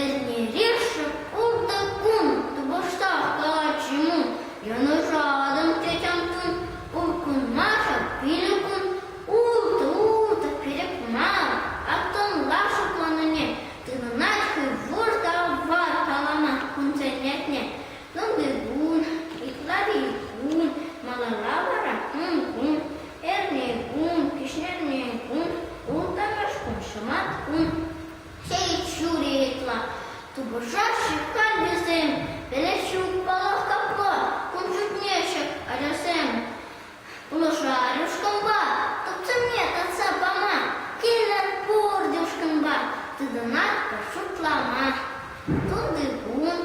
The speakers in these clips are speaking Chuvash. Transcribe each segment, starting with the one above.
Эрнерешев ултӑ кун тупӑшса калатчӗ-мун, йӑнӑшатӑн тетямтун, уркунмашӑн пилӗк кун, ултӑ-ултӑ перек мар, аттӑнлашӑп манӑне, тытӑнать-ши вӑр та вар каламан кунсен ятне? Сӑнтиркун, Итламикун, малалла вара Мӑнкун, Эрнекун, Кӗҫӗрнекун, Ултавашкун, Шӑматкун, Сӗтҫури ытла тупӑшаҫҫӗ каллисем. Пӗлӗҫҫӗ паллах капла, кун шутне ҫак ачасем пулӑшар ушкӑнпа, тупсӑмне татса пама, килӗр пурте ушкӑнпа, тытӑнатпӑр шутлама. Тунтикун,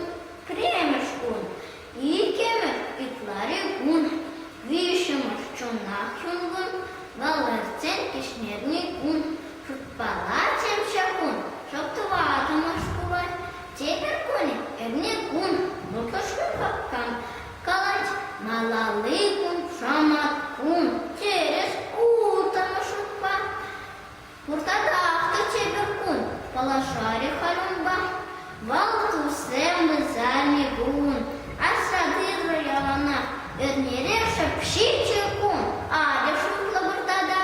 Пӗрремӗш кун, иккӗмӗш ытлари кун, виҫҫӗмӗш чунах юнкун, волонтсен кӗҫнерни кун. Шутпалатчӗччӗ кун, шӑп-тӑватӑмӗш пулать. Тепӗр кунӗ эрне кун, мӑкӑшри папкам калать, малалли кун шӑмат кун. Тӗрӗс, ултӑмӗш шутпа. Пуртата ак тепӗр кун, паллашарӗ Харунпа. Вӑл туссем ывӑлсем-и пулн, асра тытӑр яланах. Эрнерех шӑпшиччӗ ун, атьӑр шутлӑ выртата.